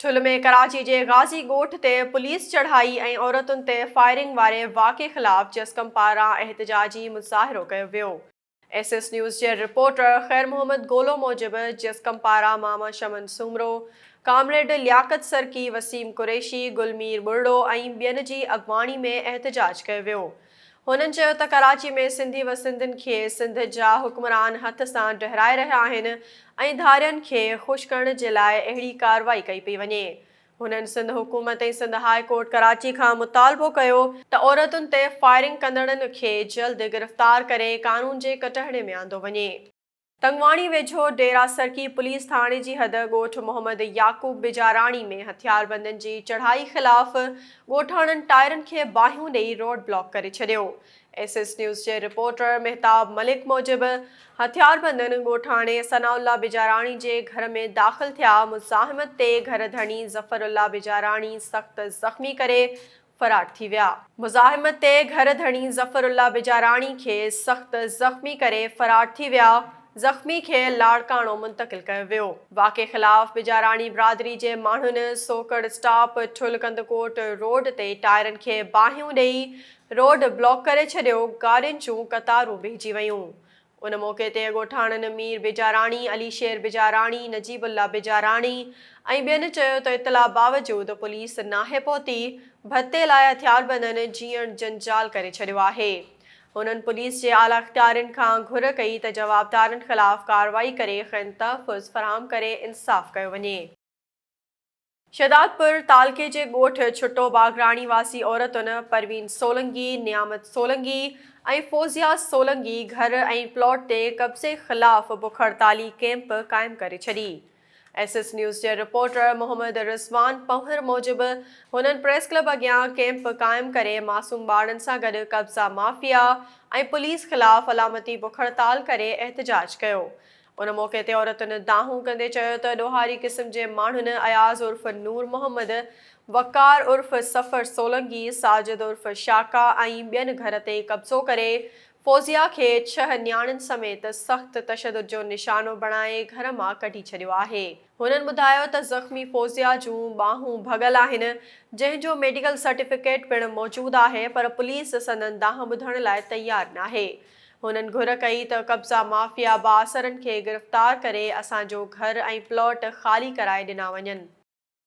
ٺل ۾ ڪراچي جي غازي ڳوٺ تي پوليس چڙهائي ۽ عورتن تي فائرنگ واري واقعي خلاف جسقم پاران احتجاجي مظاهرو ڪيو ويو. ايس ايس نيوز جي رپورٽر خير محمد گولو موجب جسقم پاران ماما شمن سومرو، ڪامريڊ لياقت سرڪي، وسيم قريشي، گل مير ٻرڙو ۽ ٻين جي اڳواڻي ۾ احتجاج ڪيو ويو. هنن چيو ته ڪراچي ۾ سنڌي و سنڌين کي سنڌ جا حڪمران هٿ سان ڊهرائي رهيا آهن ۽ ڌارين کي خوش ڪرڻ جي لاء اهڙي ڪارروائي ڪئي پئي وڃي. هنن سنڌ حڪومت ۽ سنڌ هاء ڪورٽ ڪراچي کان مطالبو ڪيو ته عورتن تي فائرنگ ڪندڙن کي جلد گرفتار ڪري قانون جي ڪٽهڙي ۾ آندو وڃي. تنگواڻي ويجهو ڊيرا سرڪي پوليس ٿاڻي جي حد ڳوٺ محمد يعقوب بجاراڻي ۾ هٿياربندن جي چڙهائي خلاف ڳوٺاڻن ٽائرن کي باهيون ڏئي روڊ بلاڪ ڪري ڇڏيو. ايس ايس نيوز جي رپورٽر مهتاب ملڪ موجب هٿياربندن ڳوٺاڻي ثناء الله بجاراڻي جي گهر ۾ داخل ٿيا مزاحمت تي گهر ڌڻي ظفر الله بجاراڻي سخت زخمي ڪري فرار ٿي ويا. مزاحمت تي گهر ڌڻي ظفر الله بجاراڻي کي سخت زخمي ڪري فرار ٿي ويا، زخمي کي لاڙڪاڻو منتقل ڪيو ويو. واقعي خلاف بجاراڻي برادري جي ماڻهن سوڪڙ اسٽاپ ٺل ڪنڌڪوٽ روڊ تي ٽائرن کي باهيون ڏئي روڊ بلاڪ ڪري ڇڏيو، گاڏين جون قطارون بيهجي ويون، ان موقعي تي ڳوٺاڻن مير بيجاراڻي، علي شير بيجاراڻي، نجيب الله بيجاراڻي ۽ ٻين چيو ته اطلاع باوجود پوليس ناهي پهتي، ڀتي لاء هٿياربندن جيئڻ جنجال ڪري ڇڏيو آهي. هنن پوليس جي اعليٰ اختيارين کان گهر ڪئي ته جوابدارن خلاف ڪارروائي ڪري کين تحفظ فراهم ڪري انصاف ڪيو وڃي. شهدادپور تعلقي جي ڳوٺ ڇٽو باگراڻي واسي عورتن پروين سولنگي، نيامت سولنگي ۽ فوزيا سولنگي گهر ۽ پلاٽ تي قبضي خلاف بک هڙتالي ڪيمپ قائم ڪري ڇڏي. ايس ايس نيوز جي رپورٽر محمد رضوان پنهور موجب هنن پريس ڪلب اڳيان ڪيمپ قائم ڪري معصوم ٻارڙن سان گڏ قبضا مافيا ۽ پوليس خلاف علامتي بک هڙتال ڪري احتجاج ڪيو ان موقعي تي عورتن دانهون ڪندي چيو ته ڏوهاري قسم جي ماڻهن اياز عرف نور محمد، وقار عرف سفر سولنگي، ساجد عرف شاڪا ۽ ٻين گهر تي قبضو ڪري فوزيا کي ڇهه نياڻين سميت سخت تشدد جو نشانو بڻائي گهر مان ڪڍي ڇڏيو آهي. هنن ٻڌايو ته زخمي فوزيا جون ٻانهون ڀڳل آهن، جنهن جو ميڊيڪل سرٽيفڪيٽ پڻ موجود آهي پر پوليس سندن دانهن ٻڌڻ لاء تيار ناهي. هنن گهر ڪئي ته قبضا مافيا بااثرن کي گرفتار ڪري اسان جو گهر ۽ پلاٽ خالي ڪرائي ڏنا وڃن.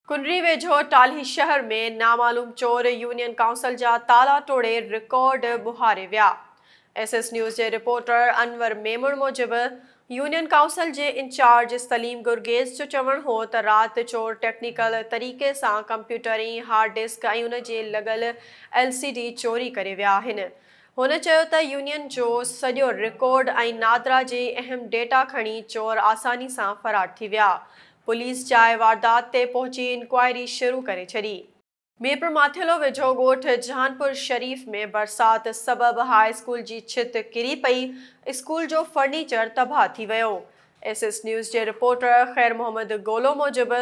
ڪنري ويجهو ٽالهي شهر ۾ نامعلوم چور يونين ڪائونسل جا تالا ٽوڙي رڪارڊ ٻهاري ويا. ايس ايس نيوز جي رپورٽر انور ميمڻ موجب يونين ڪائونسل جي انچارج سليم گرگيز جو چوڻ هو ته رات چور ٽيڪنيڪل طريقي سان ڪمپيوٽرين، هارڊ ڊسڪ ۽ ان جي لڳل ايل سي ڊي چوري ڪري ويا آهن. هن چيو ته يونين جو سڄو رڪارڊ ۽ نادرا جي اهم ڊيٽا کڻي چور آساني سان فرار ٿي ويا. پوليس جاء واردات تي پهچي انڪوائري شروع ڪري ڇڏي. ميرپورماٿيلو ويجهو ڳوٺ جهانپور شريف ۾ برسات سبب هاء اسڪول جي ڇت ڪري پئي، اسڪول جو فرنيچر تباهه ٿي ويو. ايس ايس نيوز جي رپورٽر خير محمد گولو موجب،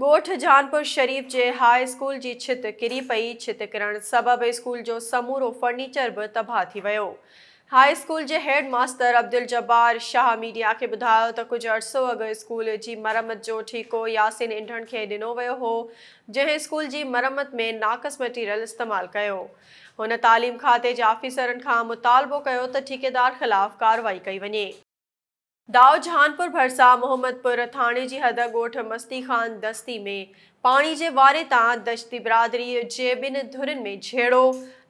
ڳوٺ جهانپور شريف جي هاء اسڪول جي ڇت ڪري پئي، ڇت ڪرڻ سبب اسڪول جو سمورو فرنيچر به تباهه ٿي ويو. هاء اسڪول جي head master Abduljabbar Shah media کي ٻڌايو ته ڪجهه عرصو اڳ اسڪول جي مرمت جو ٺيڪو ياسين انڍڻ کي ڏنو ويو هو جنهن اسڪول جي مرمت ۾ ناقص مٽيريل استعمال ڪيو هن تعليم کاتي جي آفيسرن کان مطالبو ڪيو ته ٺيڪيدار خلاف ڪارروائي ڪئي وڃي. دائود جهانپور ڀرسان محمدپور ٿاڻي جي حد ڳوٺ مستي خان دستي ۾ پاڻي جي واري تان دشتي برادري جي ٻن ڌرين ۾ جهيڙو،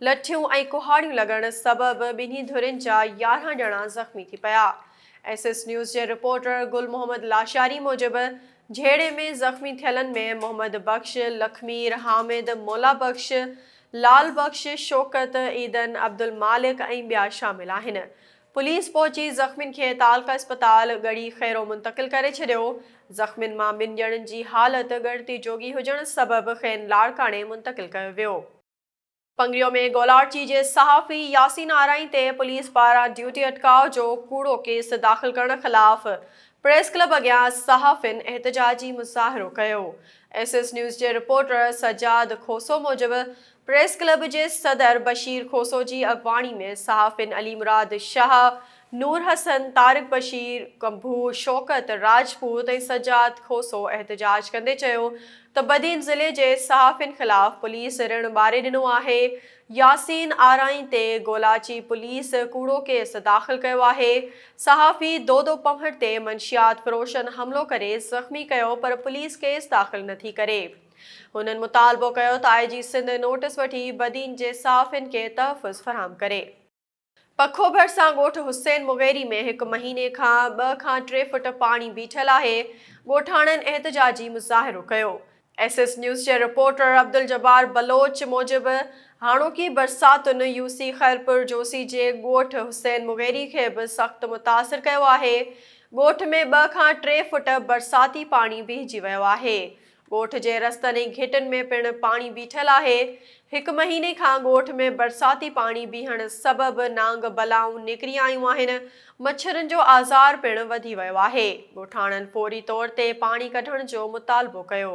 لٺيون ۽ ڪهاڙيون لڳڻ سبب ٻنهي ڌرين جا يارهن ڄڻا زخمي ٿي پيا. ايس ايس نيوز جي رپورٽر گل محمد لاشاري موجب جهيڙي ۾ زخمي ٿيلن ۾ محمد بخش، لکمير، حامد، مولا بخش، لال بخش، شوڪت، عيدن، عبدالمالڪ ۽ ٻيا شامل آهن. پوليس پهچي زخمين کي تعلقه اسپتال ڳڙهي خيرو منتقل ڪري ڇڏيو، زخمين مان ٻن ڄڻن جي حالت ڳڻتي جوڳي هجڻ سبب کين لاڙڪاڻي منتقل ڪيو ويو. پنگريو ۾ گولاڙچي جي صحافي ياسين آرائين تي پوليس پاران ڊيوٽي اٽڪاء جو ڪوڙو ڪيس داخل ڪرڻ خلاف پريس ڪلب اڳيان صحافين احتجاجي مظاهرو ڪيو. ايس ايس نيوز جي رپورٽر سجاد کوسو موجب پريس ڪلب جي صدر بشير کوسو جي اڳواڻي ۾ صحافين علي مراد شاهه، نور حسن، طارق بشير، ڪنڀو، شوڪت راجپوت ۽ سجاد کوسو احتجاج ڪندي چيو ته بدين ضلعي جي صحافين خلاف پوليس رڻ ٻاري ڏنو آهي، ياسين آرائين تي گولاچي پوليس ڪوڙو ڪيس داخل ڪيو آهي، صحافي دودو پنهور تي منشيات فروشن حملو ڪري زخمي ڪيو پر پوليس ڪيس داخل نٿي ڪري. هنن مطالبو ڪيو ته آء جي سنڌ نوٽس وٺي بدين جي صحافين کي تحفظ فراهم ڪري. پکو ڀرسان ڳوٺ حسين مغيري ۾ هڪ مهيني کان ٻه کان ٽي فوٽ پاڻي بيٺل آهي، ڳوٺاڻن احتجاجي مظاهرو ڪيو. ايس ايس نيوز جي رپورٽر عبدالجبار بلوچ موجب هاڻوڪي برساتن يو سي خيرپور جوسي جي ڳوٺ حسين مغيري کي به سخت متاثر ڪيو آهي، ڳوٺ ۾ ٻه کان ٽي فوٽ برساتي پاڻي بيهجي ويو آهي، ڳوٺ جي رستن ۽ گهٽن ۾ پڻ پاڻي بيٺل آهي، هڪ مهيني کان ڳوٺ ۾ برساتي پاڻي بيهڻ سبب نانگ بلائون نڪري آيون آهن، مڇرن جو آزار پڻ وڌي ويو آهي، ڳوٺاڻن فوري طور تي پاڻي ڪڍڻ جو مطالبو ڪيو.